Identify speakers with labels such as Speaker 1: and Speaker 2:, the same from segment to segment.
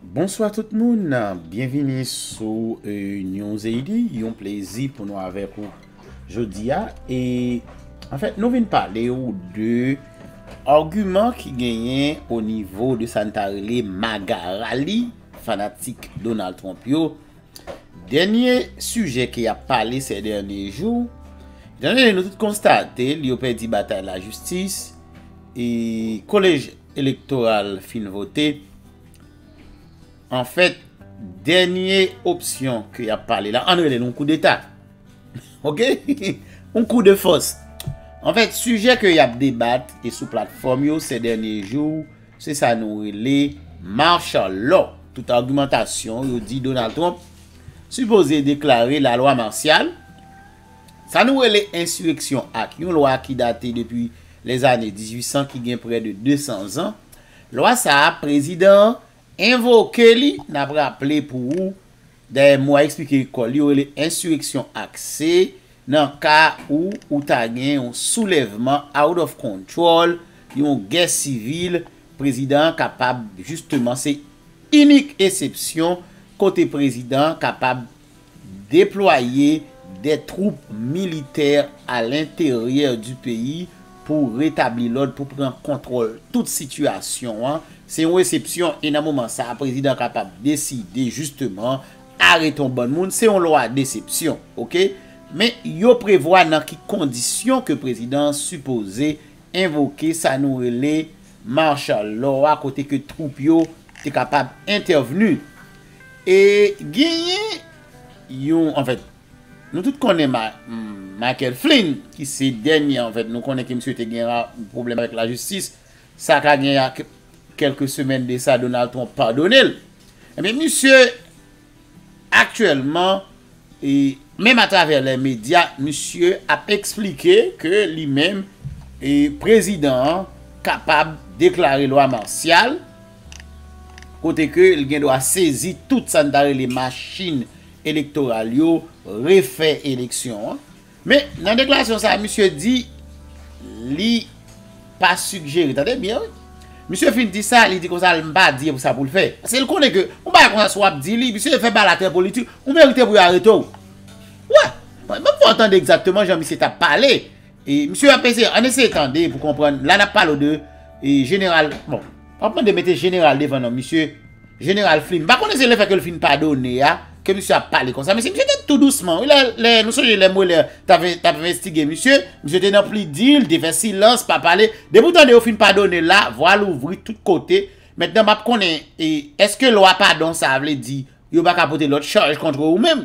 Speaker 1: Bonswa tout moun, byenvini sou Newzayiti, yon plezi pou nou avèk ou jodi a e anfèt nou vin pale ou de agiman ki genyen o nivo de sa nou ta rele maga rali fanatik Donald Trump yo. Dènye sijè ke y ap pale sè dènye jou, nou tout konstate li yo pèdi batay lajistis e kolej. elektoral fin vote, anfèt, dènye opsyon ke y ap pale la, ann rele l yon koudeta, ok, yon kou de fòs. Anfèt, sijè ke y ap debat e sou platfòm yo sè dènye jou, se sa nou rele Martial Law. Tout agimantasyon yo di Donald Trump sipoze deklare lalwa marsyal, Sa nou rele ensireksyon ak yon lwa ki date depi lèzane 1800 ki gen prè de 200 zan. Lwa sa a, prezidan an envoke li, n ap raple pou ou, dayè mo a esplike kò l, yo rele ensireksyon ak se nan ka ou ou ta gen yon soulèvman out of control, yon gè sivil, prezidan an kapab jisteman se inik esepsyon kote prezidan an kapab Deplwaye de twoup militè a lenteryè di peyi pou retabli lòd, pou pran kontwòl tout sitiyasyon an, se yon esepsyon e nan moman sa a prezidan kapab deside jisteman arete yon bann moun, se yon lwa desepsyon ok. Men yo prevwa nan ki kondisyon ke prezidan an sipoze envoke sa nou rele martial law a kote ke twoup yo te kapab entèvni. E genyen yon anfèt nou tout konnen Michael Flynn ki se dènye anfèt nou konnen ke misye te gen pwoblèm avèk lajistis sa ka gen kèlke semèn de sa Donald Trump padone l enben misye aktyèlman menm atravè lè medya misye ap eksplike ke li menm prezidan an kapab deklare lwa marsyal. kote ke l gen dwa sezi tout sa n ta rele machin elektoral yo, refè eleksyon an. Men, nan deklarasyon sa a, misye di li pa sigjere, tande byen wi, misye fin di sa, li di kon sa l m pa di sa pou l fè. Paske l konnen ke yon bagay kon sa si w ap di li, misye fè balatè politik, ou merite pou yo arete w. Wè, m pa tande egzakteman jan misye t ap pale. E misye ap eseye, an eseye tande pou konprann, la nap pale w de e jeneral, bon, pa mande mete jeneral devan non misye, jeneral Flynn, m pa konnen se le fè ke l fin padone a, ke misye ap pale konsa, men se misye te tou dousman wi, lè, nou sonje lè Mueller tap envestige misye, misye te nan pli di l, te fè silans, pa pale, depi w tande yo fin padone l la, vwa l ouvri tout kote, mentnan map konnen, e, eske lwa padon sa a vle di, yo pa ka pote lòt chaj kontre ou menm?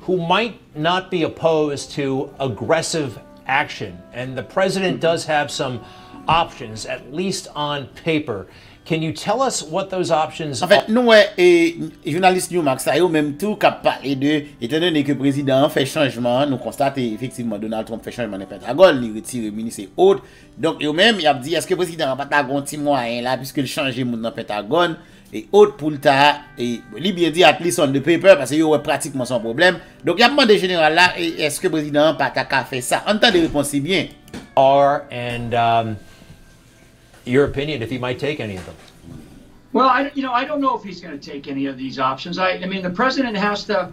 Speaker 2: who might not be opposed to aggressive action and the president does have some options at least on paper can you tell us what those options are? Anfèt nou wè e
Speaker 1: jounalis Newmax sa yo menm tou kap pale de etan done ke prezidan an fè chanjman an nou konstate efektivman Donald Trump fè chanjman nan Pentagòn li retire minis e ot donk yo menm yap di eske prezidan an pata gon ti mwayen la piske l chanje moun nan Pentagòn E ot pou l ta, e li byen di at least on the paper, pase yo wè pratikman se yon pwoblèm. Donk y ap mande jeneral la, e èske prezidan an pa ta ka fè sa? Ann tande repons li byen. Are and
Speaker 2: your opinion if he might take any of them? Well,
Speaker 3: I don't know if he's going to take any of these options. I mean, the president has to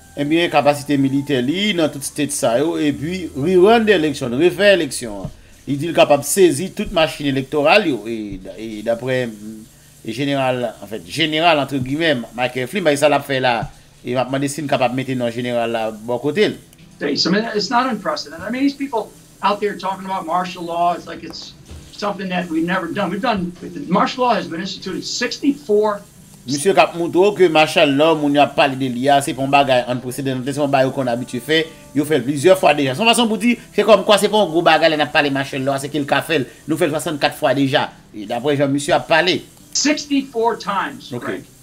Speaker 1: Ebyen kapasite militè li nan tout state sa yo epi rerun the election, refè eleksyon an. Li di l kapab sezi tout machin elektoral yo e daprè jeneral anfèt jeneral antre gimè Michael Flynn bay sa l ap fè la e m ap mande si n kapab mete non jeneral la bò kote l. It's not unprecedented. I mean
Speaker 3: these people out there talking about martial law it's like it's something that we've never done we've done martial law has been instituted 64 Misye kap
Speaker 1: moutre w ke martial law moun yo ap pale de li a se pa yon bagay unprecedented, se pa yon bagay yo konn abitye fè, yo fè l plizyè fwa deja. Se yon fason pou di, se kòm kwa se pa yon gwo bagay lè n ap pale martial law a, se ke l ka fè l. Nou fè l 64 fwa deja, daprè jan misye ap pale. 64 times,
Speaker 3: Greg.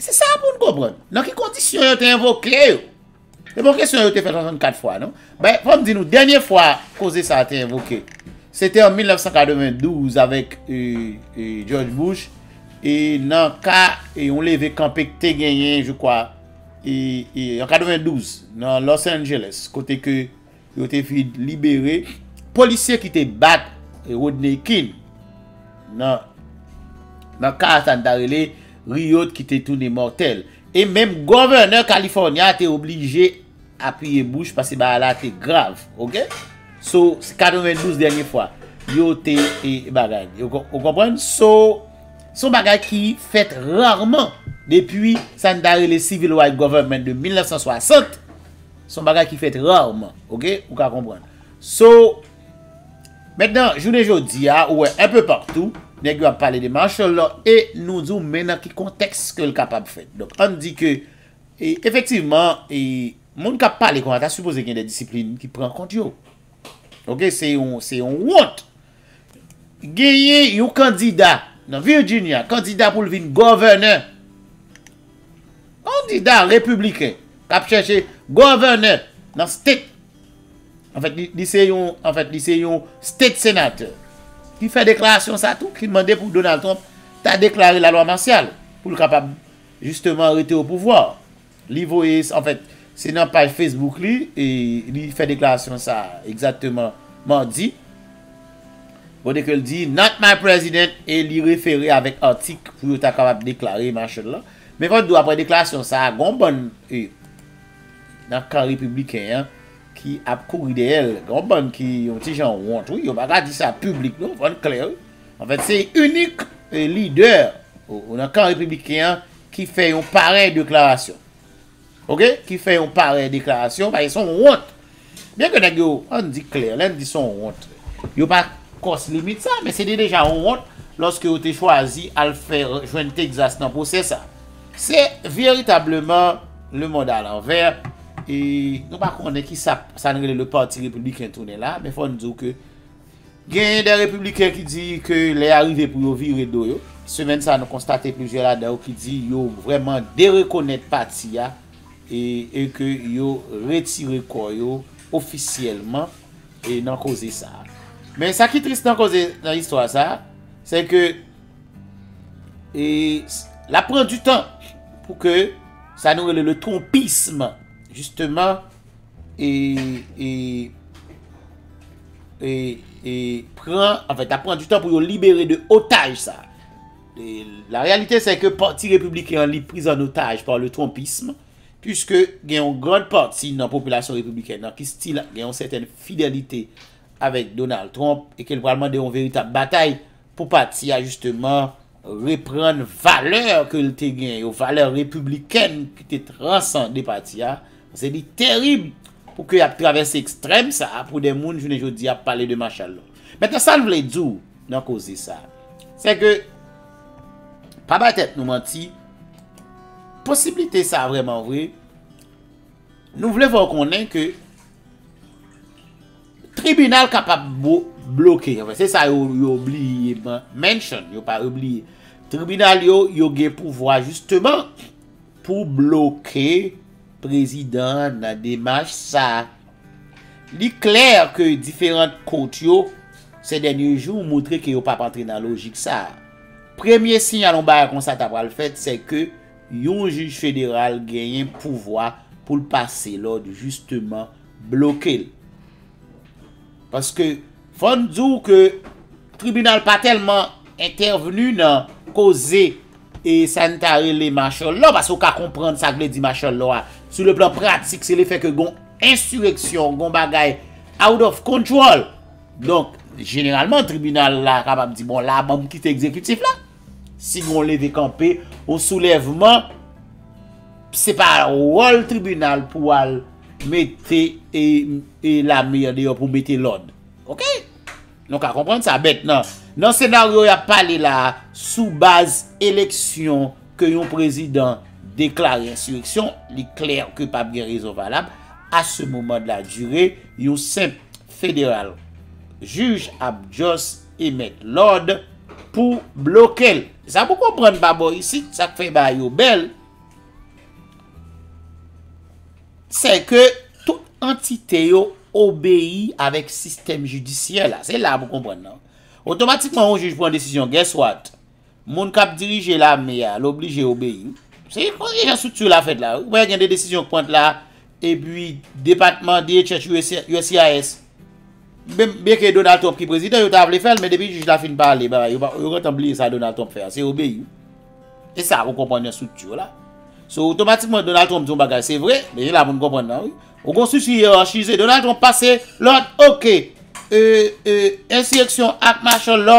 Speaker 1: Se sa pou n konprann. Nan ki kondisyon yo te envoke yo? Se pa yon kesyon yo te fè 64 fwa, non. Men, fò m di nou, dènye fwa koze sa a te envoke, se te an 1992 avèk George Bush nan ka yon leve kanpe ki te genyen, je kwa, an 92, nan Los Angeles, kote ke Yo te vin libere polisye ki te bat Rodney King nan ka sa n ta rele riot ki te tounen mòtèl. E menm Gòvènè California a te oblije apiye bouch paske bagay la te grav. Ok? So, se 92 dènye fwa yo te bagay. Ou konprann? So, son bagay ki fèt rarman depi sa n ta rele Civil Rights Government de 1960. Se yon bagay ki fèt rarman, ok, ou ka konprann. So, mentnan, jounen jodi a, ou wè enpe partou, nèg yo ap pale de martial law e nou di w men nan ki kontèks ke l kapab fèt. Donk, an n di ke, efektivman, moun k ap pale kon sa ta sipoze gen de disiplin ki pran kont yo. Ok se yon se yon wont. Genyen yon kandida nan Virginia kandida pou l vin governor. Kandida republiken kap chèche governor nan state an fèt li se yon an fèt li se yon state senator ki fè deklarasyon sa tou ki mande pou Donald Trump ta deklare la lwa masyal pou l kapab jisteman rete o pouvwa. Li voye, an fèt, se nan paj Facebook li, li fè deklarasyon sa a egzakteman madi, kote ke li di, Not my president, e li refere avèk atik pou yo ta kapab deklare Marshall la. Men fò n di w aprè deklarasyon sa a, gen yon bann nan kan repibliken an ki ap kouri dèyè l. Gen yon bann ki yon ti jan wont wi, yo pa ka di sa piblik non, fò n klè wi. An fèt, se inik lidè nan kan repibliken an, ki fè yon parèy deklarasyon. Ok, ki fè yon parèy deklarasyon, paske son wont. Byen ke nèg yo, an di klè, lè n di son wont, yo pa kòs limit sa, men se te deja yon wont lòske yo te chwazi al fè jwenn Texas nan pwosè sa. Se veritableman le mond a lanvè, e nou pa konnen ki sa, sa n rele le parti repibliken tounen la, men fò n di w ke, Genyen de repibliken ki di ke lè a rive pou yo vire do yo. Semèn sa a nou konstate plizyè ladan yo ki di yo vrèman derekonèt pati a e ke yo retire kò yo ofisyèlman nan koze sa a. Men sa ki tris nan koze nan istwa sa a, se ke l ap pran du tan pou ke sa nou rele le trumpisme jisteman. e e e e pran anfèt ap pran du tan pou yo libere de otaj sa e la reyalite se ke pati repibliken an li priz an otaj pa le trumpism pwiske gen yon grand pati nan popilasyon repibliken nan ki stil gen yon sèten fidelite avèk Donald Trump e ke l pral mande yon veritab batay Pou pati a jisteman reprann valè ke l te gen yo, valè repiblikèn ki te transande pati a, pase li terib pou ke y ap travèse ekstrèm sa a pou de moun jounen jodi a ap pale de machal lò. Mentnan sa n vle di w nan koze sa a, se ke pa bay tèt nou manti, posiblite sa a vrèman vre, nou vle fè w konnen ke, Tribinal kapab bloke, se sa yo bliye mention, yo pa bliye, tribinal yo, yo gen pouvwa jisteman pou bloke prezidan an nan demach sa. Li klè ke diferant kont yo sè dènye jou moutre ke yo pap antre nan lojik sa. Premye siyal yon bagay konsa ta pral fèt sè ke yon jij federal genyen pouvwa pou l pase lòd jisteman blokel paske fòn di w ke tribinal pa tèlman entèvni nan koze e sa n ta rele machòlò paske w ka konprann sa k vle di machòlò a sou le plan pratik se le fè ke gon ensireksyon gon bagay out of control donk jeneralman tribinal la kapab di bon la ban m kite ekzekitif la. Si gen yon leve kanpe, yon soulèvman, se pa wòl tribinal pou al mete e lame an deyò pou mete lòd. Ok? Nou ka konprann sa. Bèt nan. Nan senaryo y ap pale la a, sou baz eleksyon ke yon prezidan deklare ensireksyon, li klè ke pa p gen rezon valab, a se moman de la dire, yon senp federal jij ap just. E met lòd pou blokel. Sa pou konprann pa bò isit sak fè bagay yo bèl sè ke tout antite yo obeyi avèk sistèm jidisyè la se la pou konprann nan otomatikman yon jij pran desizyon guess what Moun kap dirije lame a, l oblije obeyi wi. Se konsa jan structure la fèt la. Ou wè gen de desizyon k pran la, epi depatman DHS, uscis, byen ke Donald Trump ki prezidan, yo ta vle fè l, men depi jij la fin pale, bagay yo, yo gentan bliye sa Donald Trump fè a, se obeyi wi. E sa ou konprann nan structure la. So otomatikman Donald Trump di yon bagay se vre, men se la pou nou konprann nan wi. Ou gen yon structure yerachize, Donald Trump pase lòd, ok, e, e, ensireksyon ak machann lò,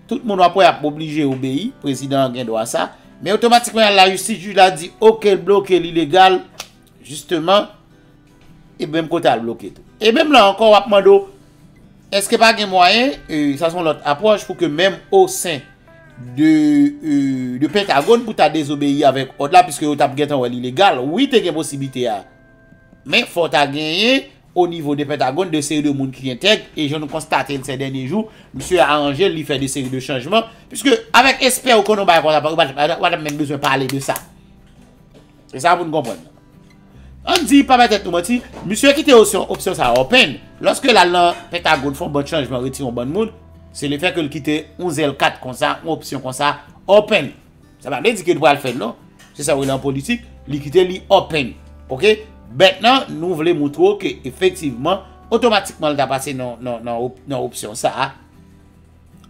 Speaker 1: Tout moun wap wè ap oblije obeyi, prezidan an gen dwa sa, men otomatikman yal lajistis jij la di ok l bloke l ilegal, jisteman e menm kote al bloke tou. E menm la ankò wap mande w eske pa gen mwayen, sa son lòt apwòch pou ke menm osen de pentagòn pou ta dezobeyi avèk òd la, piske yo tap gentan wè l ilegal, wi te gen posiblite a, men fò ta genyen. O nivo de Pentagone, de seri de moun ki entèg, e jan nou konstate l sè dènye jou, msye aranje l, li fè de seri de chanjman, piske avèk espè ou konnen yon bagay konsa pa, ou pa tap, ou pa tap menm bezwen pale de sa. Se sa pou n konprann nan. An n di, pa bay tèt nou manti, msye kite osyon, opsyon sa a open, lòske l al nan Pentagone fè yon bann chanjman, retire yon bann moun, se le fè ke l kite yon zèl kat konsa, yon opsyon konsa open. Sa pa vle di ke li pral fèl non. Se sa yo rele an politik, li kite li open. Ok? Mentnan, nou vle moutre w ke efektivman, otomatikman li ta pase nan opsyon sa a,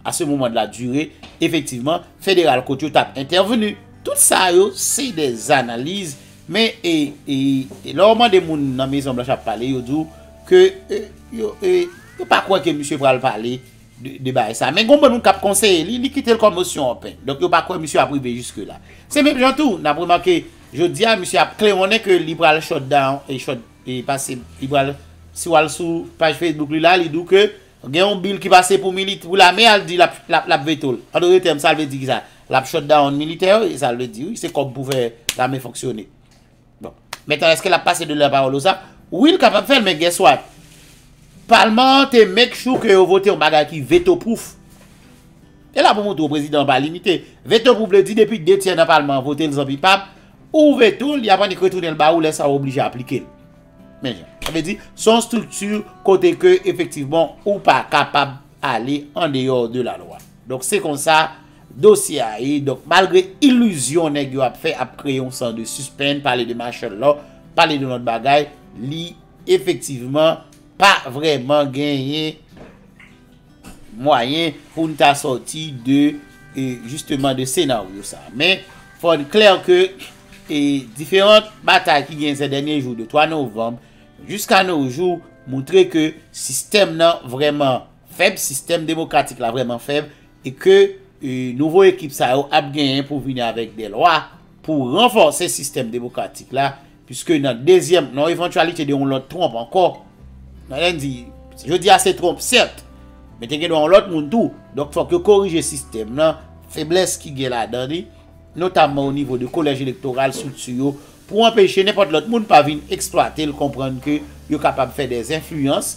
Speaker 1: a se moman de la dure, efektivman, federal kot yo ta ap entèveni. Tout sa yo, se de analiz, men, e, e, e, lè w mande moun nan Mezon Blanch ap pale, yo di w ke, e, yo, e, yo pa kwè ke misye pral pale. de bagay sa. Men gon bann moun kap konseye li, li kite l kòm osyon open. Donk yo pa kwè misye ap rive jiske la. Se menm jan tou, nap remake jodi a misye ap klewonnen ke li pral shut down, shut, e pase, li pral, si wal sou paj Facebook li la, li di w ke gen yon bill ki pase pou mili, pou lame a, li di lap, lap, lap veto l. An dotre tèm sa l vle di kisa? Lap shut down militè yo, e sa l vle di wi, se kòb pou fè lame fonksyone. Maintenant eske lap pase de la parole ou sa? Wi l kapab fè l men guess what? Palman an te make sure ke yo vote yon bagay ki veto proof. E la pou montre w prezidan an pa limite. Veto proof vle di depi 2 tyè nan palman an vote l zanmi pa m, ou veto l, y ap annik retounen l ba ou lè sa w oblije aplike l. Men jan. Sa vle di se yon strikti kote ke efektivman ou pa kapab ale andeyò de la lwa. Donk se konsa. Dosye a ye donk malgre illusion nèg yo ap fè ap kreye yon san de suspenn pale de marshall law pale de lòt bagay li efektivman pa vrèman genyen mwayen poun ta sòti de justement de senaryo sa men fòn klè ke e diferant batay ki genyen zè dènye jou de 3 novanm juska no jou moutre ke sistèm nan vrèman fèb sistèm demokratik la vrèman fèb e ke nouvo ekip sa yo ap genyen pou vini avèk de lwa pou ranfòse sistèm demokratik la, puiske nan dezyèm, nan evantyalite de yon lòt Trump ankò, nan lè n di, jodi a se Trump sèt, men te gen dwa yon lòt moun tou, donk fòk yo korije sistèm lan, feblès ki gen ladan li, notamman o nivo de kolèj elektoral, strikti yo, pou anpeche nenpòt lòt moun pa vin eksplwate l, konprann ke yo kapab fè de enfliyans.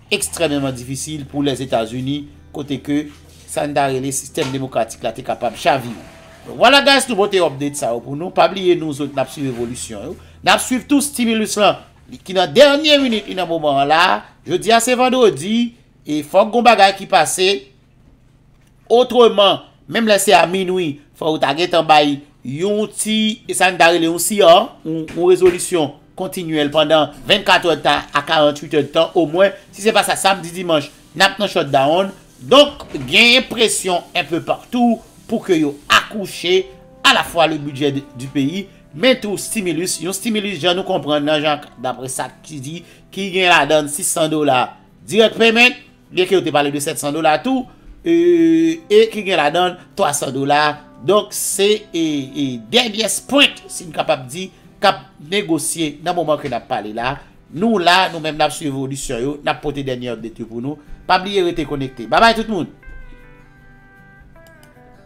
Speaker 1: ekstrèmeman difisil pou Lèzetazini kote ke sa n ta rele sistèm demokratik la te kapab chavire. Donk vwala guys nou pote update sa yo pou nou, pa bliye nou zot nap swiv evolisyon yo, nap swiv tou stimulus lan ki nan dènye minit li nan moman an la, jodi a se vandredi e fòk gon bagay ki pase Otreman, menm lè se a minwi, fò ou ta gentan bay yon ti, sa n ta rele yon CR, yon rezolisyon kontinyèl pandan 24 èd tan a 48 èd tan omwen. Si se pa sa, samdi, dimanch, n ap nan shutdown. Donk, genyen presyon enpe patou pou ke yo akouche alafwa le bidjè di peyi, men tou stimilus. Yon stimilus, jan nou konprann nan, jan dapre sa ki di, ki gen ladan 600 dola direct payment, Byen ke yo te pale de 700 dola tou, e ki gen ladan l 300 dola, donk se denyès pwent, si n kapab di, k ap negosye nan moman ke n ap pale la. Nou la, nou menm n ap swiv evolisyon yo, n ap pote dènye update yo pou nou. Pa bliye rete konekte. Babay tout moun!